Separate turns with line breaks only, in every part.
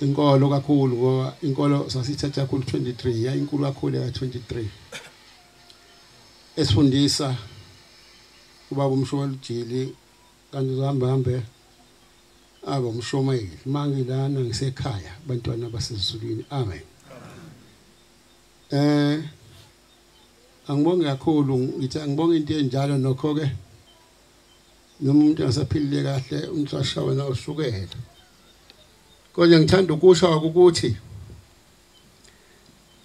inkolo kakhulu ngoba inkolo sasithatha kakhulu 23 yayinkulu kakhulu ya 23 esifundisa ubaba umshowalujili kanti uhamba hambe aba umshomayeli mangilana ngisekhaya bantwana basezulwini amen eh angibonge kakhulu ngithi angibonge into enjalo nokho ke noma umuntu engasaphilile kahle umuntu ashawe na usukela kodwa ngithanda ukusho ukuthi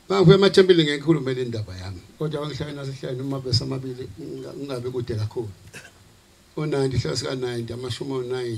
bangibuye emathempeli ngekhulume le ndaba yami kodwa bangihlale nasehlale noma besamabili ngingabe kude kakhulu o-90 hlala sika-90 amashumi o-9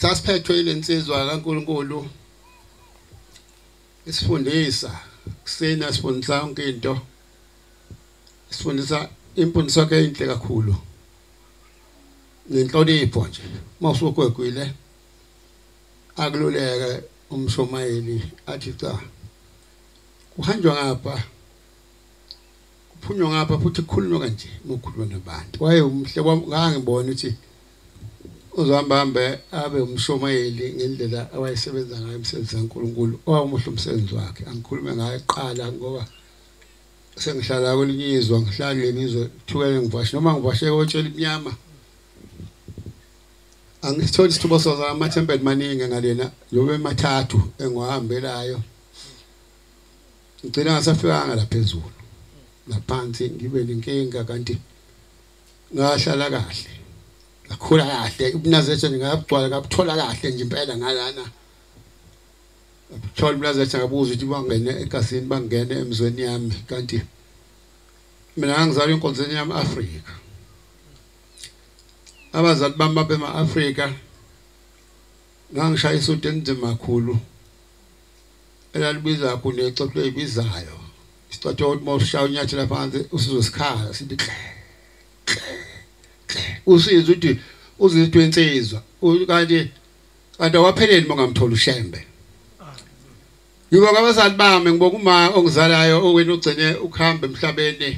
sasiphethwe ilensizwa kaNkuluNkulu isifundisa kusina sifundisa yonke into sifundisa imfundiso yakhe inhle kakhulu nenhlonipho nje uma usugwegwile akululeke umshomayeli athi cha kuhanjwa ngapha kuphunywa ngapha futhi kukhulunywa kanje ngokhuluma nabantu waye umhle ngangibona ukuthi uzohambambe abe umshumayeli ngendlela awayesebenza ngayo umsebenzi kaNkulunkulu owawumuhle umsebenzi wakhe angikhulume ngaye kuqala ngoba sengihlala kwelinye izwe ngihlala kuleni izwe thukele ngivashe noma ngivashe kotshela imnyama angisitholi isithubo soza amathempeli maningi ngalena lobe mathathu engiwahambelayo ngigcina ngasafikanga la phezulu laphansi ngibe nenkinga kanti ngahlala kahle ngakhula kahle ubunazethe ngabugcwala ngabuthola kahle nje impela ngalana thola ubunazethe ngabuza ukuthi bangene egasini bangene emzweni yami kanti mina ngangizalwa enkonzweni yami Afrika abazali bami babema Afrika ngangishaya isudu enzima kakhulu elalibizwa kunexoxo ebizayo Isicotho ukuthi mawushaya unyathela phansi usizwe sikhala sithi kle. Usizwe ukuthi uzizwe insizwa kanti kanti awapheleli mongamthola ushembe. Ngibonga abazali bami ngibonga uma ongizalayo owena ugcine ukuhamba emhlabeni.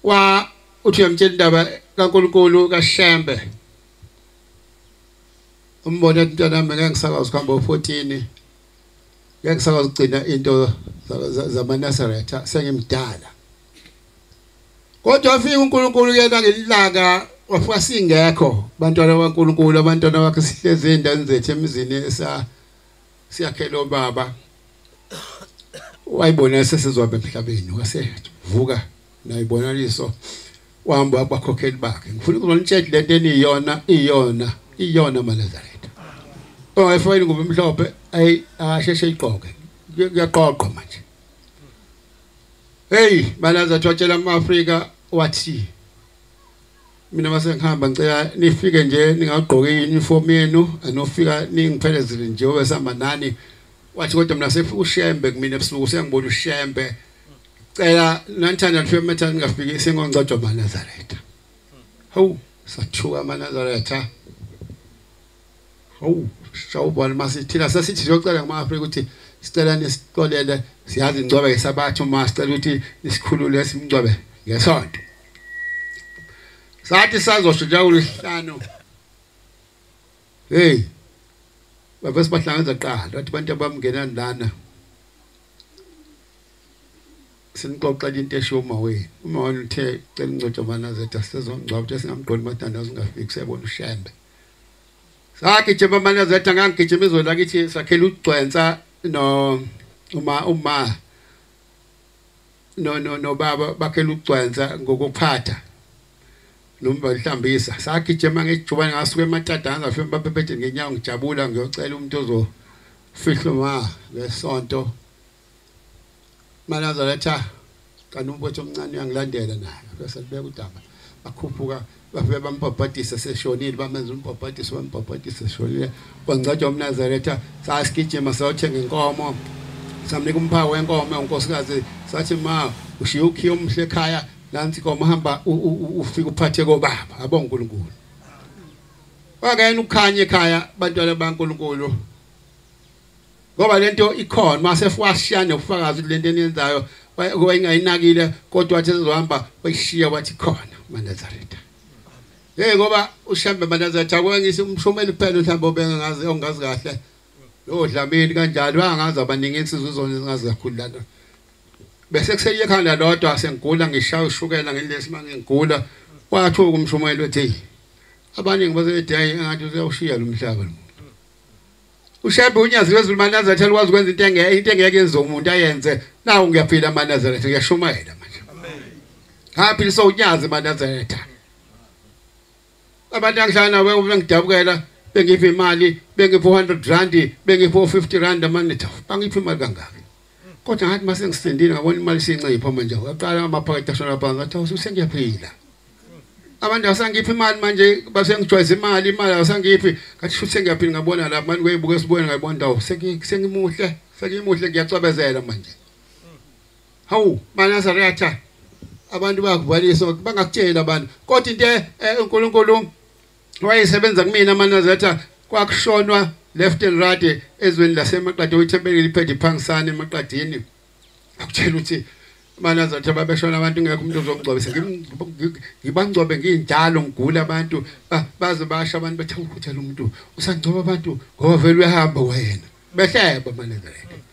Wa uthi uyamtshela indaba kaNkulunkulu kaShembe. Umbone mntana mina ngisakwazi ukuhamba u14. ngeke ngisakwazi ukugcina into zamaNazaretha sengimdala kodwa afika uNkulunkulu yena ngelilanga wafika singekho bantwana baNkulunkulu abantwana bakhe sihlezi endaweni zethu emizini esa siyakhela obaba wayibona sesizwa emhlabeni wasevuka nayibonaliso Wahamba wakubakhokheli bakhe. Ngifuna ukuzonitshela ukuthi lento eniyona iyona iyona maNazaretha. Oh efowini ngoba emhlophe ayi asheshe iqoke. Kuyaqoqwa manje. Hey, balaza thotshela amaAfrika wathi mina mase ngihamba ngicela nifike nje ningagqoki uniform yenu anofika ningiphelezile nje obesihamba nani wathi kodwa mina sefushembe kumina ebusuku sengibona ushembe cela nanithanda kufika methana ningafiki singongcojwa manazaretha hawu sathuka manazaretha hawu shawubona masithina sasithi siyocela ngama-afrika ukuthi sicela nisixolele siyazi ngcwabe ngesabatha uma sicela ukuthi nisikhulule simngcwabe ngesonto sathi sazosho njengolwesihlanu heyi bavese bahlangeza kuqala bathi abantu abamngenani lana sinixoxela into esho uma wenu uma wena uthe cela ingcotsho manazetha sisezongcwaba uthe singamqondi mathandazo ungafiki siyabona ushembe sagijima amanazetha ngangigijima izwe lakithi sakhela ugcwensa no uma uma no no no baba bakhe lugcwanza ngokuphatha nomba lihlambisa sagijima ngejubane ngasuka ematadanza afike baphethe ngenyawo ngijabula ngiyocela umuntu ozo fihlo ma ngesonto manazaretha kanti umfowethu omncane uyangilandela naye bese libeka udaba akhuphuka bafike bambhabhadisa seshonile bamenza umbhabhadiso bambhabhadisa seshonile kwangcwatshwa umnazaretha sasigijima sayothenga inkomo samnika umphawu wenkomo unkosikazi sathi ma ushiye ukhiye omhle ekhaya nansi inkomo hamba ufike uphathe kobaba abo uNkulunkulu wakayena ukukhanya ekhaya abantwana baNkulunkulu ngoba lento ikhona mase fwashiya nokufakaza ukuthi lento eniyenzayo kuba ingayinakile kodwa wathi ezohamba wayishiya wathi khona manazaretha hey ngoba ushambe manazaretha kwengisa umshumeli kuphela mhlawumbe obengazi ongazi kahle lo dlamini kanjalo angazi abaningi insizwe izona ezingazi kakhulu lana bese kuseye ekhanda lodwa sengigula ngishaya ushukela ngelesi mangengigula wathuka umshumeli wethi abaningi baseday engathi useyawushiya lo mhlaba lo ushembe unyazi lwezulu manazareth alikwazi ukwenza into engeke into engeke yenze umuntu ayenze nawu ngiyaphila manazareth ngiyashumayela manje ngaphilisa unyazi manazareth abantu angihlala nawe uma ngidabukela bengiphi imali bengiphi 100 rand bengiphi 50 rand manje bangiphi imali kangaka kodwa ngathi uma sengisindile ngabona imali siyincipho manje uyaqala amaphakethe ashona phansi ngathi awusu sengiyaphila abantu asangiphi imali manje basengijwayeza imali imali asangiphi ngathi shuthi sengiyaphila ngabona la manje kuyibuka esibuyeni ngayibona ndawo sengimuhle sengimuhle ngiyacwebezela manje hawu manazariyatha abantu bayakuvalisa bangakutshela abantu kodwa into eh, uNkulunkulu wayesebenza kumina amanazatha kwakushonwa left and right ezweni lasemaqadi oyithempelile iphethe iphangisane emaqadini akutshela ukuthi manazatha babeshona abantu ngeke umuntu ozongcobisa ngibangcobe nginjalo ngigula abantu baze basha abantu bethe ukuthi lo muntu usangcoba abantu ngoba vele uyahamba wena behleba manazatha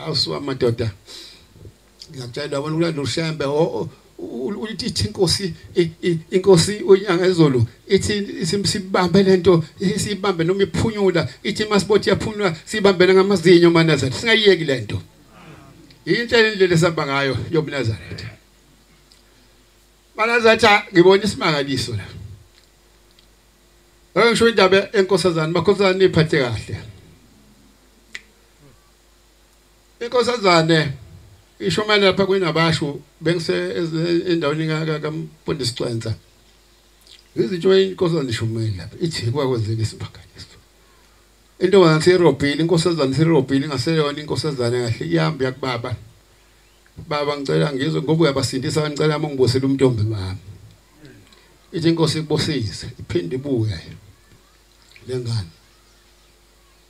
awusuka madoda ngiyakutshela wabona ukulanda ushembe ulithi ithi inkosi inkosi unyanga ezulu ithi simsibambe lento sibambe noma iphunyula ithi masibothi yaphunyula sibambele ngamazinyo manazari singayiyeki lento yinhlelo indlela esihamba ngayo yobunazaretha banazaretha ngibona isimangaliso la ngisho indaba enkosazana bakhosazana niphathe kahle inkosazane isho manje lapha kwinabasho bengise endaweni kaMfundisi Cwenza izinto inkosazane ishumile lapha ithi kwakwenzeka isiphakaniso intombazane sirobhile inkosazane sirobhile ingaseyona inkosazane kahle iyamba yakubaba baba ngicela ngizwe ngoba uyabasindisa ngicela uma ngibusele umntombi mami ithi inkosi ikubusise iphinde ibuye lengane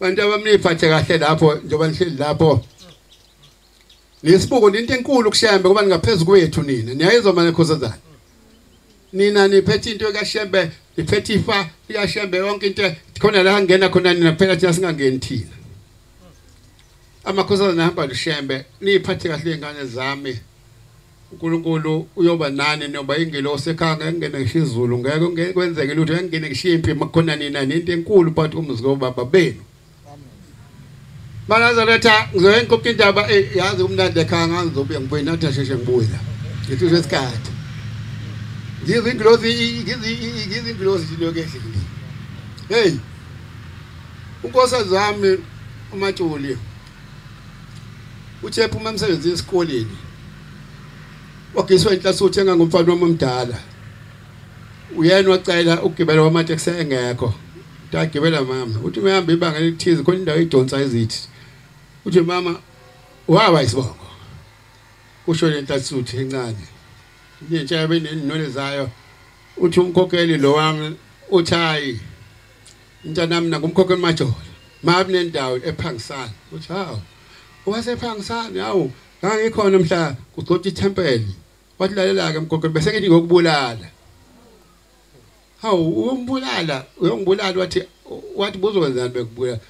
Bantu abamniphathe kahle lapho njengoba nihleli lapho. Nisibuko into enkulu kushembe kuba ningaphezulu kwethu nina. Niyayizwa manje khosazana. Nina niphethe into kaShembe, niphethe ifa likaShembe yonke into khona la ngena khona nina phela thina singangeni thina. Amakhosazana ahamba luShembe, niphathe kahle ingane zami. uNkulunkulu uyoba nani noma ingelosi ekhanga engene ngisho izulu ngeke ngeke kwenzeke lutho engene ngisho impi makhona nina nento enkulu phakathi komuzi kobaba benu Manazaretha ngizoya ngikopha indaba eh, yazi kumnandi ekhanga ngizobuya ngibuye nathi asheshe ngibuye la ngithi usho isikhathi ngizwe ingilosi ngizwe ingilosi into yokehle hey unkosazami umatsholi Uthe ephuma emsebenzini esikoleni wagiswa inhlasi uthenga ngomfana wami omdala. Uyena wacela ukugibela kwamateksi engekho. Tagibela mama. Uthi uyahamba ibanga elithize khona indawo idonsa izithi. Uthi mama wawa isibongo. Kusho le nhlasi uthi encane. Intsha yabe nenwele zayo. Uthi umkhokheli lo wami uthayi Mntanami nakumkhokhe majola. Mabi nendawo ephangisana. Uthi hawu. Owasephangisana hawu ngangikhona mhla kugcotha ithempeli. Wathi lalela ke mkhokhe bese ngithi ngokubulala. Hawu umbulala uyongibulala wathi wathi buzowenzani bekubulala.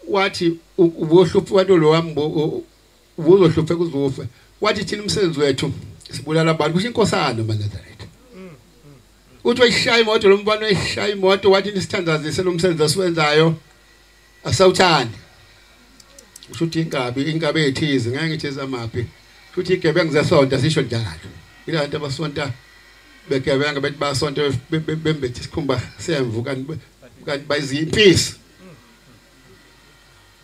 Wathi ubohluphi wathi lo wami ubuzohluphe kuzufe wathi thina umsebenzi wethu sibulala abantu kusho inkosana maNazaretha uthi wayishaya imoto lombani wayishaya imoto wathi nisithandazise lomsebenzi asiwenzayo asawuthandi usho ukuthi inkabi inkabi ethize ngeke ngithi zamaphi futhi igebengu zesonta sisho njalo ila bantu abasonta begebenga bethi basonta bembethe isikhumba semvu kanti kanti bayizimpisi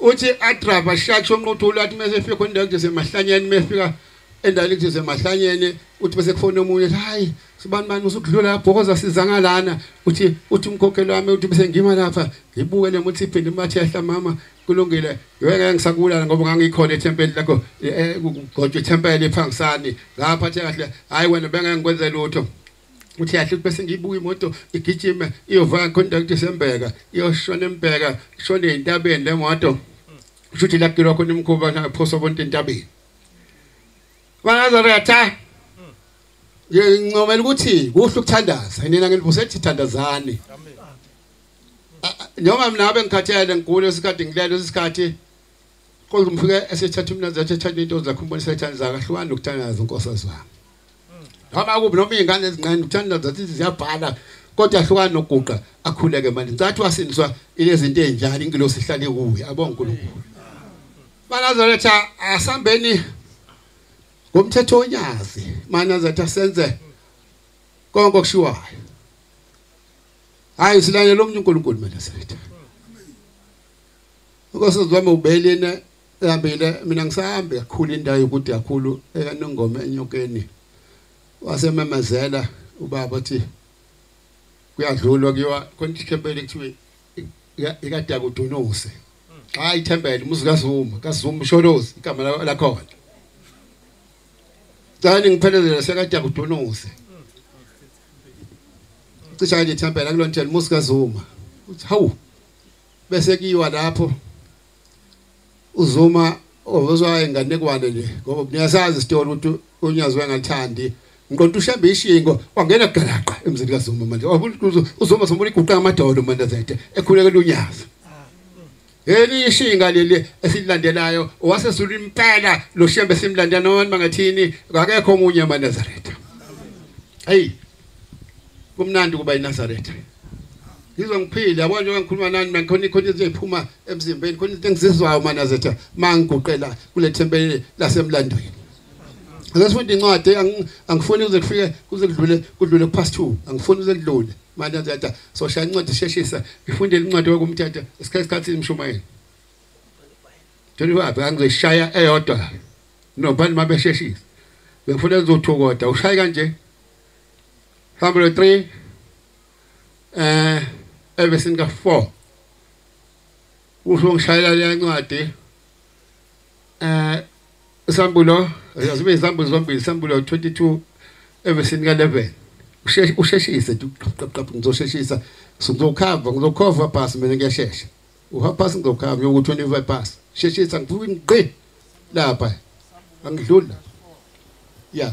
uthi adrava shatsho nquthula athi mase fika khona nje semahlanyeni mefika endaweni nje semahlanyeni uthi bese kufona omunye hayi sibani mani usukudlula bhokoza sizanga lana uthi uthi umkhokhelo wami uthi bese ngima lapha ngibuke lemuthi iphinde imathi yahla mama kulungile ngeke ngisakubulala ngoba ngangikhona ethempeli lakho eh, eh, kugojwa ithempeli phangisani ngaphathe kahle hayi wena bengeke ngikwenze lutho uthi yahle ukuthi bese ngiyibuka imoto igijima iyovaka contact sembeka iyoshona embeka ishone entabeni lemoto usho ukuthi lakilwa khona imkhuba naphosa bonke entabeni bangazaretha ngincomela ukuthi kuhle ukuthandaza nina nginivusethi thandazani noma mina ngabe ngikhathele ngigule isikhathi ngilele isikhathi Kodwa umfike esethatha umnazi athi ethatha into zakhe umbonisa ithanda zakhe hlukana nokuthandaza inkosi azwami. Noma kubi noma izingane ezincane ukuthandaza zithi ziyabhala kodwa hlukana nokuguqa akhuleke manje. Ncathi wasindiswa ilezinto ezinjalo ingilosi ihlale kuye abonga uNkulunkulu. Banazaretha asambeni ngomthetho onyazi manazaretha senze konke okushiwayo. Hayi silalele umuntu uNkulunkulu manazaretha. Ukosizwami ubelina ehambile mina ngisahambe kakhulu indawo yokude kakhulu ekanongoma enyokeni wasememezela ubaba uthi kuyadlulwa kuyiwa khona ithempeli kuthiwe ikade akudunuse xa ithempeli umuzi kazuma kazuma usholozi igama lakhona cani ngiphelezele sekade akudunuse cisha nje ithempeli akulonjela umuzi kazuma uthi hawu bese kiwa lapho uzuma ozwa enganekwane nje ngoba niyasazi isitori ukuthi unyazwe ngathandi ngiqonda ushembe ishingo wangena galaqa emzini kaZuma manje uzuma sombona iguqa amadolo manje zethe ekhulekela unyazi Yeli ishinga leli esilandelayo wasesula impela lo shembe simlanda noma ngathini akekho omunye amaNazaretha Hey kumnandi ukuba eNazaretha ngizwa ngiphile yabona njengoba ngikhuluma nani mina ngikhona ikhona izinto eziphuma emzimbeni khona izinto engizizwayo manazetha mangiguqela kule thempeli lasemlandweni Ngesifunda incwadi angifuni kuze kufike kuze kudlule kudlule past 2 angifuni kuze kudlule manje ndatha so shaya incwadi sheshisa ngifunde incwadi yokumthatha isikhathi isikhathi imshumayeli 25 angizoshaya eyodwa nobani mabesheshisa bekufuna uzothokoda ushaya kanje Hebrew 3 eh evesini ka 4 usho ngishayela le ncwadi eh isambulo azibe isambulo zombili isambulo 22 evesini ka 11 usheshe usheshise duqaqaqqa ngizosheshisa ngizokhava ngizokhova pass mina ngiyashesha uha pass ngizokhava ngiyoku 25 pass sheshisa ngifuna ngqi lapha angidlula yeah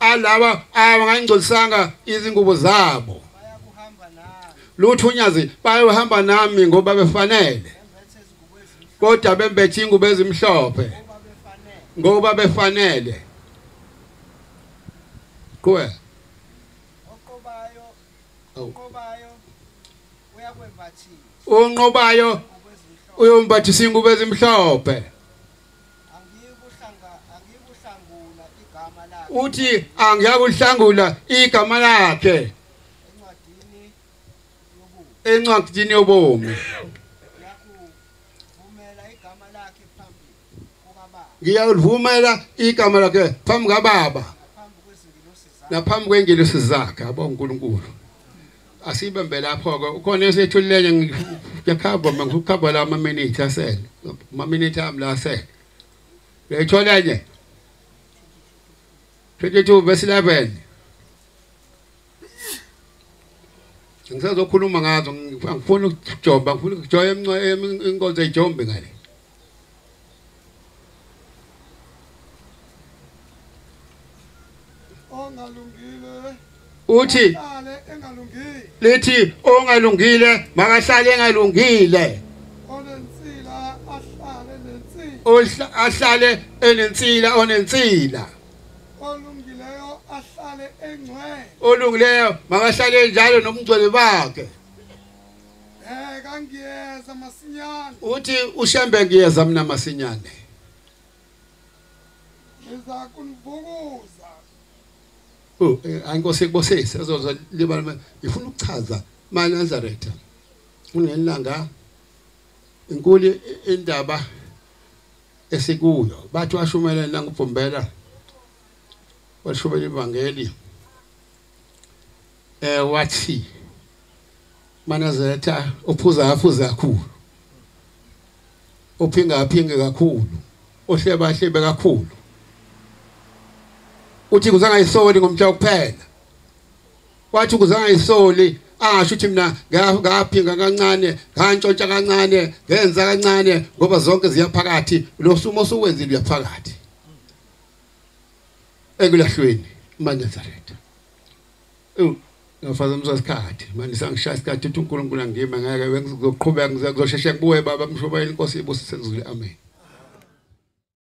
alaba abangangcolisanga izingubo zabo lutho unyazi bayohamba nami ngoba befanele kodwa bembethe ingubo ezimhlophe ngoba befanele kuwe oqobayo oqobayo uyakwembathisa unqobayo uyombathisa ingubo ezimhlophe uthi angiyakuhlangula igama lakhe encwadini yobomi ngiyalivumela igama lakhe phambi kababa naphambi kwengelosi zakhe abo uNkulunkulu asibambe lapho-ke ukhona esethululele ngiyakhava ma ngikukhava la amaminithi asele amaminithi ami la asele uyayithola enye 22 verse 11 ngisazokhuluma ngazo ngifuna ukujomba ngifuna ukujoya inkonzo ejombe ngale
ongalungile uthi
ale engalungile lithi ongalungile makahlale engalungile onensila
ahlale nensila Ohla- ahlale
enensila onensila olungileyo
ahlale engcwele olungileyo
makahlale njalo nobungcwele bakhe Eh
kangiyeza masinyane. Uthi ushembe
ngiyeza mina masinyane.
Ngiza kunivukuza. Oh, eh,
ayinkosi kubosisi azoza libala ngifuna ukuchaza ma Nazareth. Unelanga inkulu indaba esikuyo bathi washumayela nangubhombela washubela ivangeli eh wathi manazetha uphuza afuze kakhulu uphinga aphinge kakhulu ohleba ahlebe kakhulu uthi kuzangayisoli ngomtha kuphela wathi kuzangayisoli asho ukuthi mina ngaphinga kancane ngantshontsha kancane ngenza kancane ngoba zonke ziyaphakathi lo sumo osuwenzile uyaphakathi ekulahlweni maNazaretha ewu ngafaza umsasikhathi manje sangishaya isikhathi uthi uNkulunkulu angime ngeke ngizoqhubeka ngizosheshe kubuye baba mshobayile inkosi ibusise ngizule amen